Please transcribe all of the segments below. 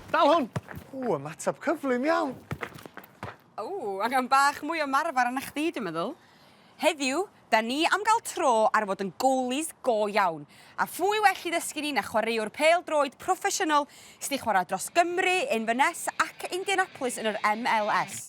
Dal hwn! Ww, ymateb cyflym iawn. Ww, angen bach mwy o marfar arna chdi, dwi'n meddwl. Heddiw, da ni am gael tro ar fod yn goalies go iawn. A phwy well i ddysgu ni na chwaraewr pêl-droed proffesiynol sydd wedi chwarae dros Gymru, Inverness ac Indianapolis yn yr MLS.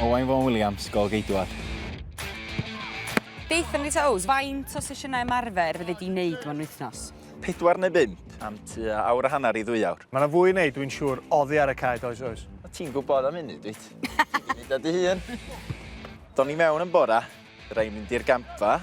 Owain Fôn Williams, gol geidwad. Beth am Lisa Ows, faint o sesiynau ymarfer fyddi di'n neud mewn wythnos? Pedwar neu bum, am tua awr a hanner i ddwy awr. Mae yna fwy wneud, dwi'n siŵr, oddi ar y cae, does oes? O ti'n gwybod am hynny, dwyt? Ti'n gwneud dy hun. Do'n i mewn yn bora, Rhaid mynd i'r gampfa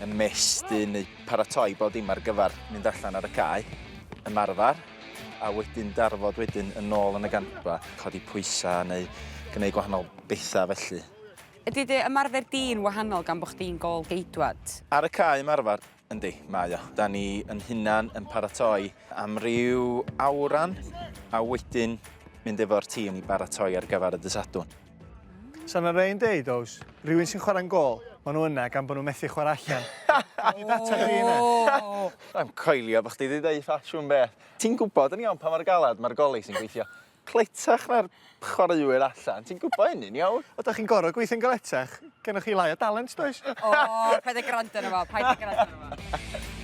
yn mestyn neu paratoi bod dim ar gyfer mynd allan ar y cae, ymarfer, a wedyn darfod wedyn yn ôl yn y gampfa, codi pwysau neu gwneud gwahanol bethau felly. Ydy dy ymarfer di'n wahanol gan bod chdi'n gôl-geidwad? Ar y cae ymarfer, Yndi, mae o. Da ni yn hunan yn paratoi am ryw awran a wedyn mynd efo'r tîm i baratoi ar gyfer y dysadwn. Sa'n ar ein deud, oes, rhywun sy'n chwarae'n gol, maen nhw yna gan bod nhw'n methu chwarae allan. Ni data chi yna. Rha'n coelio bod chdi wedi dweud ffasiwn beth. Ti'n gwybod yn iawn pa mae'r galad mae'r goli sy'n gweithio. cletach na'r chwaraewyr allan. Ti'n gwybod hynny'n iawn. O, da chi'n gorau gweithio'n galetach. Gennych chi lai o dalent, does? O, paid â gwrando arno fo, paid â gwrando arno fo.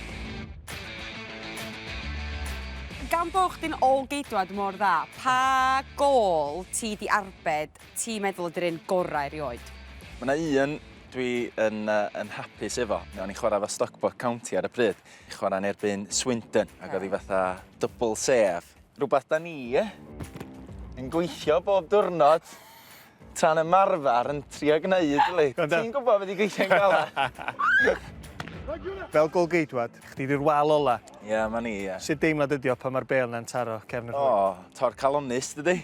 Gan bod chdi'n ôl-geidwad mor dda, pa gôl ti 'di arbed ti'n meddwl ydy'r un gorau erioed? Mae yna un dwi yn, uh, yn hapus efo. O'n i'n chwarae efo Stockport County ar y pryd. Chwarae'n erbyn Swindon, ac oedd hi fatha double sef. Fflip. Rhywbeth da ni yn gweithio bob diwrnod tra'n ymarfer yn trio gwneud, yli. Ti'n gwybod beth i gweithio'n galed. Fel gol geidwad, chdi di'r wal ola. Ie, yeah, ma ni, ie. Yeah. Sut deimlad ydi o pan mae'r bel na'n taro cefn y ffwrdd? O, oh, tor calonus, dydy.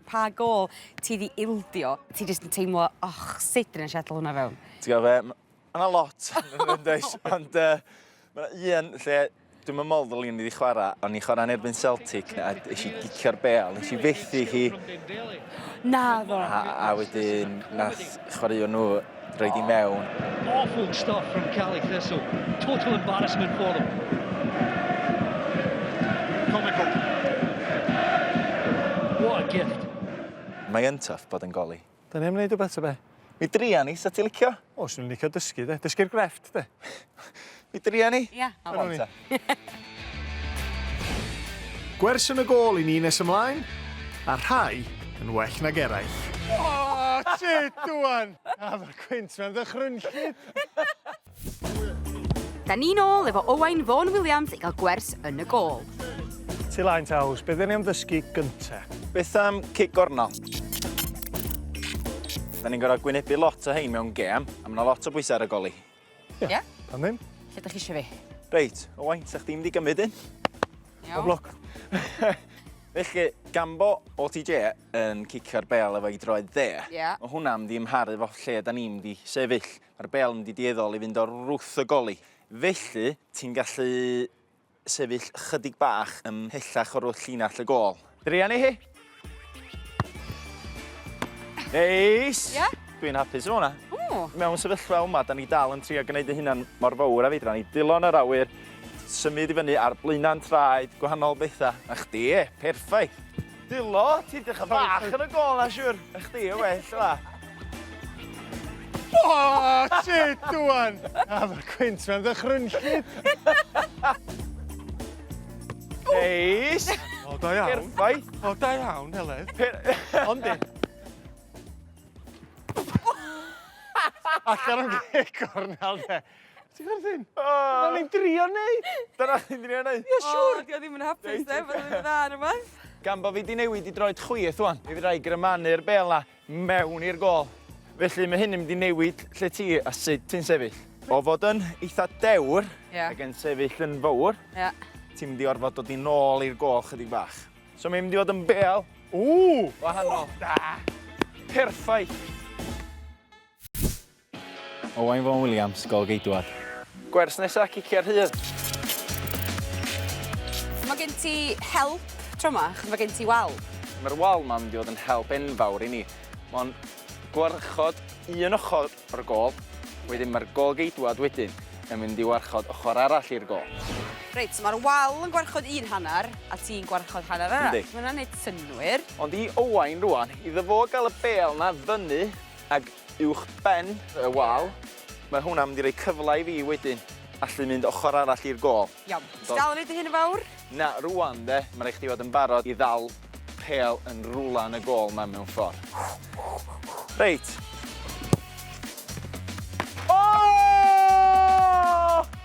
Pa gol ti di ildio? Ti jyst yn teimlo, och, sut dyn ni'n siadl hwnna fewn? Ti'n gwybod fe, Mae yna lot, does, ond uh, mae yna un lle dwi'n yn modd ddylwn i chwarae, ond i chwarae'n erbyn Celtic, a nes i gicio'r bel, nes i fethu hi. Na ddo. A, a wedyn, nath chwaraeon nhw droi di mewn. Awful stuff from Cali Thistle. Total embarrassment for them. Comical. What a gift. Mae'n tough bod yn goli. Da ni am neud wbeth ta be? Mi dria ni, sa ti licio? O, swn i'n licio dysgu 'de. Dysgu'r grefft 'de. Mi dria ni? Ia. Come on ta. Gwers yn y gôl i ni nes ymlaen, a rhai yn well nag eraill. O! Sut ŵan? A ma'r cwins 'ma'n ddychrynllyd! Da ni'n ôl efo Owain Vaughan Williams i gael gwers yn y gol. Ti lain te Ows, beth ni am ddysgu gynta? Beth am cic gornel? Da ni'n gorau gwynebu lot o hein mewn gem, a mae lot o bwysau ar y goli. Ie? Yeah. Pan ddim? Lle da chi eisiau fi? Reit, Owain, sa chdi mynd i gymryd un? Iawn. Bob lwc. Felly, gambo o TJ yn cicio'r bel efo i droed dde. Ie. Yeah. Mae hwnna'n mynd i ymharu fo lle da ni'n mynd i sefyll. Ma'r bêl yn mynd i dueddol i fynd o'r wrth y goli, felly ti'n gallu sefyll chydig bach ymhellach o'r wrth llinell y gôl. Druan i hi! Neis! Ie? Dwi'n hapus efo hwnna. O! Mewn sefyllfa yma, da ni dal yn trio gwneud y hunan mor fawr a fedra ni. Dillon yr awyr, symud i fyny ar blaenau'n traed, gwahanol bethau. A chdi, perffaith! Dilo, ti'n dechrau bach yn y gol na siwr. Ych di, y well yma. O, ti, dwan! A mae'r cwynt mewn ddychrynllid. Neis! O, da iawn. Perffaith. O, da iawn, Heledd. Ond di. Allan o'n gegor nawr, de. Ti'n chwerthin? O! Dyna ni'n drio neud! Dyna ni'n drio neud! Ie, siwr! Dio ddim yn hapus, de, bod yn dda ar y math. Gan bod fi di newid i droed chwith wan, mi fydda i grymanu'r bel na mewn i'r gol. Felly mae hyn yn mynd i newid lle ti a sut ti'n sefyll. O fod yn eitha dewr, yeah. ac yn sefyll yn fawr, yeah. ti'n mynd i orfod dod i nôl i'r gol chydig bach. So mae'n mynd i fod yn bel. Ww! Wahanol. Da! Perffaith! Owain Fôn Williams, gol geidwad. Gwers nesa, ciciau rhydd. Mae gen ti help tro ma, achos mae gen ti wal. Mae'r wal ma'n mynd i fod yn help enfawr i ni. Mae'n gwarchod un ochr o'r gol, wedyn mae'r gol geidwad wedyn yn mynd i warchod ochr arall i'r gol. Reit, so mae'r wal yn gwarchod un hanner, a ti'n gwarchod hanner arall. Yndi. Mae hwnna'n neud synnwyr. Ond i Owain rwan, iddo fo gael y bêl 'na fyny, Ag uwch ben y wal, mae hwnna'n mynd i roi cyfle i fi wedyn allu mynd ochr arall i'r gôl. Iawn. Ti dal yn neud dy hun yn fawr? Na, rŵan 'de, ma' raid chdi fod yn barod i ddal pêl yn rwla yn y gôl 'ma mewn ffor. Reit. O!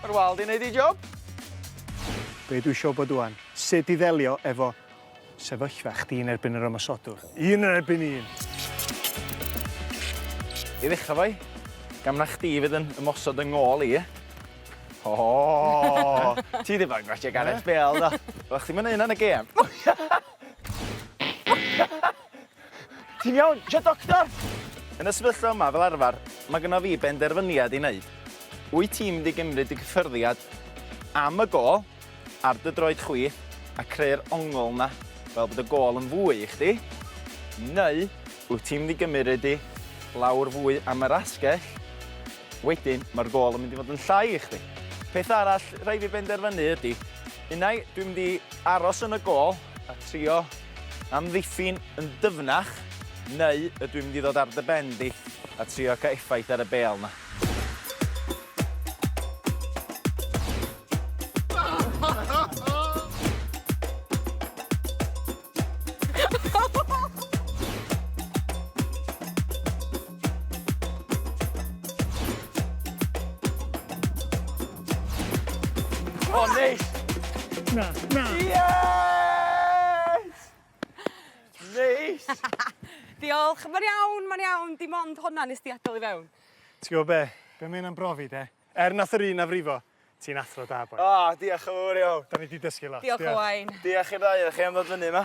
Ma'r wal 'di neud ei job. Be' dwi isio wbod ŵan, sut i ddelio efo Sefyllfa, chdi yn erbyn yr ymosodwr. Un yn erbyn un! I ddechrau fo i, gam na chdi fydd yn ymosod yng ngôl i. Ooh! Ti ddim yn gwatsiad Gareth Bale, na? Oeddach chdi'm yn neu' hynna yn y gêm. Ti'n iawn? Isio doctor? Yn y sefyllfa yma, fel arfer, mae gyda fi benderfyniad i wneud. Wyt ti'n mynd i gymryd dy gyffyrddiad am y gol ar dy droed chwi a creu'r ongl yna fel bod y gol yn fwy i chdi, neu wyt ti'n mynd i gymryd di lawr fwy am yr asgell, wedyn mae'r gol yn mynd i fod yn llai i chdi. Peth arall rhaid fi benderfynu ydy, unai dwi'n mynd i aros yn y gol a trio Amddiffyn yn dyfnach, neu ydw i'n mynd i ddod ar dy ben di a trio cael effaith ar y bêl 'na? Oh, neis! Na, na. Yes! Neis! Diolch, mae'n iawn, mae'n iawn, dim ond hwnna nes di adael i fewn. Ti'n gwybod be? Be mae hynna'n brofi de? Er nath yr un na frifo, ti'n athro da boi. O, diolch yn fawr iawn. Da ni di dysgu lot. Diolch Owain. Diolch i'r ddau o chi am ddod fyny yma.